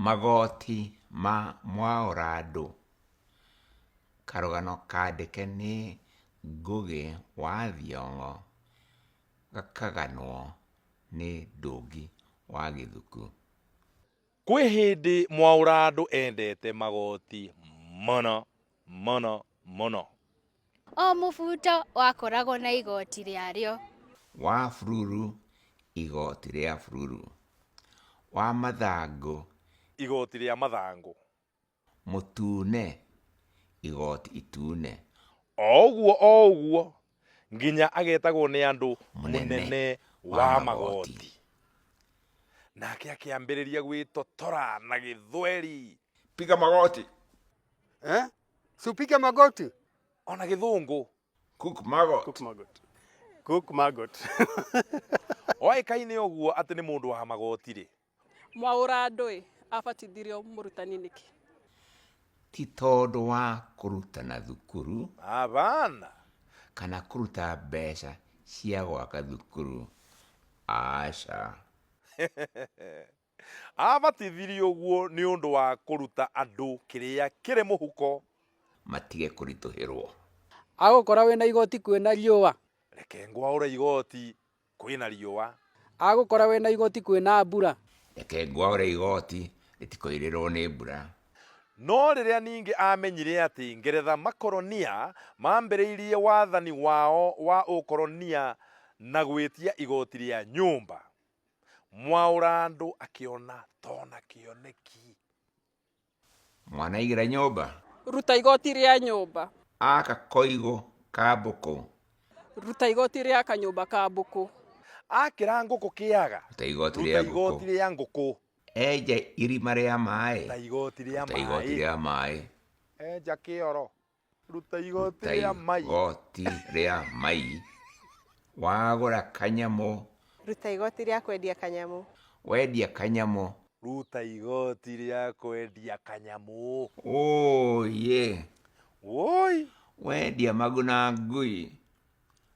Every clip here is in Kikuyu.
Magoti ma mwaũra andũ. Karũgano kandĩke nĩ Ngũgĩ wa Thiong'o gakaganwo nĩ Ndũngi wa Gĩthuku. Kwĩ hĩndĩ mwaũra andũ endete magoti mũno. mũno mũno. O mũbuto wakoragwo na igoti rĩarĩo. Wa bururu, igoti rĩa bururu. Wa mathangũ. Igoti rĩa mathangũ. Mũtune, igoti itune. O ũguo o ũguo nginya agetagwo nĩ andũ mũnene wa magoti. Nake akĩambĩrĩria gwĩtotora na gĩthweri. Piga magoti! eh? si upige magoti ona githungu Cook Magot. Cook Margot. Cook Margot. oaikaine uguo ati ni mundu wa magoti ri mwaũra andũ ĩ abatithirio mũrutani nĩkĩ Ti tondũ wa kũrutana thukuru abana kana kũruta mbeca cia gwaka thukuru. Aca. Aabatithirie ũguo nĩ ũndũ wa kũruta andũ kĩrĩa kĩrĩ mũhuko. Matige kũritũhĩrwo. Agũkora wĩ na igooti kwĩ na riũa. Reke ngwaũre igooti kwĩ na riũa. Agũkora wĩ na igooti kwĩ na mbura. Reke ngwaũre igooti rĩtikoirĩrwo nĩ mbura. No rĩrĩa ningĩ aamenyire atĩ Ngeretha makoronia maambĩrĩirie wathani wao wa ũkoronia na gwĩtia igooti rĩa nyũmba. Mwaũra andũ akĩona tona kĩoneki. Mwanaigĩra nyũmba. Ruta igoti rĩa nyũmba. Aka koigũ ka mbũkũ. Ruta igoti rĩa kanyũmba ka mbũkũ. Akĩra ngũkũ kĩaga. Ruta igoti rĩa ngũkũ. Ruta igoti rĩa ngũkũ. Enja irima rĩa maĩ. Ruta igoti rĩa maĩ. Ruta igoti rĩa maĩ. Enja kĩoro. ruta igoti ta rĩa mai igoti rĩa mai wagũra kanyamũ ruta igoti rĩa kwendia kanyamũ wendia kanyamũ ruta igoti rĩa kwendia kanyamũ ũyĩ woi wendia maguna ngui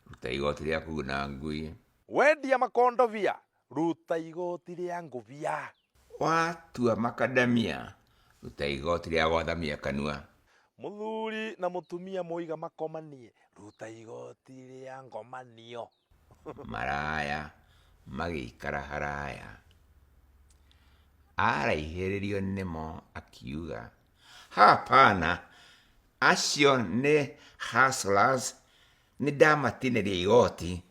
ruta igoti rĩa kuguna ngui wendia makondobia Ruta igoti rĩa ngũbia. Watua makadamia, ruta igoti rĩa gwathamia kanua. Mũthuri na mũtumia moiga makomanie, ruta igoti rĩa ngomanio. Maraya magĩikara haraya. Araihĩrĩrio nĩmo akiuga, Hapana, acio nĩ hustlers, nĩndamatinĩria igoti.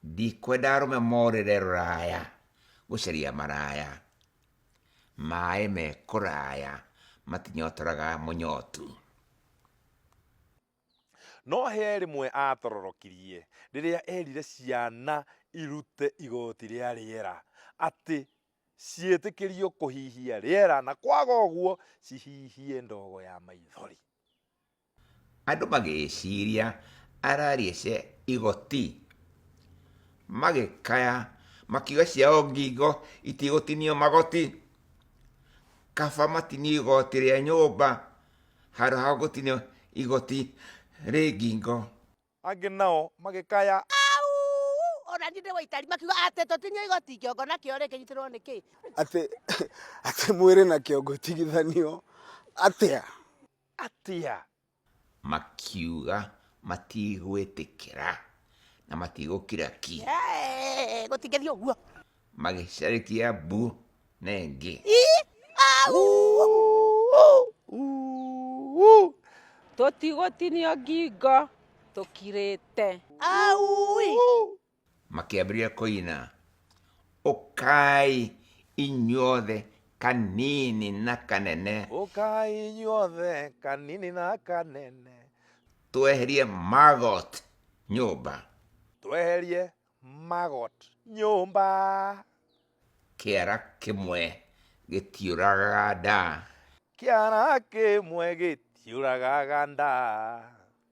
ndikwenda arũme morĩre rũraya gũcaria maraya maĩ me kũraya matinyotoraga mũnyotu No hĩa rĩmwe aatororokirie rĩrĩa eerire ciana irute igooti rĩa rĩera atĩ ciĩtĩkĩrio kũhihia rĩera na kwaga ũguo cihihie ndogo ya maithori. Andũ magĩciria araria cia igoti, magĩkaya makiuga ciao ngingo itigũtinio magoti, kaba matinio igoti rĩa nyũmba handũ ha gũtinio igoti rĩ ngingo. Angĩ nao magĩkaya. Auu! O na niĩ ndĩ Waitari. Makiuga, Atĩ tũtinio igoti kĩongo nakĩo-rĩ, kĩnyitĩrĩrwo nĩ kĩĩ? Atĩ mwĩrĩ na kĩongo itigithanio atĩa? atĩa? Makiuga, Matigwĩtĩkĩra, na matigũkira ki. Eeh, Gũtingĩthiĩ ũguo. Magĩcarĩkia mbu na ĩngĩ. Ii, au! Tũtigũtinio ngingo tũkirĩte. Au! makĩambĩrĩria kũina ũkai inyuothe kanini na kanene ũkai inyuothe kanini na kanene tweherie magot nyũmba tweherie magot nyũmba kĩara kĩmwe gĩtiũragaga nda kĩara kĩmwe gĩtiũragaga nda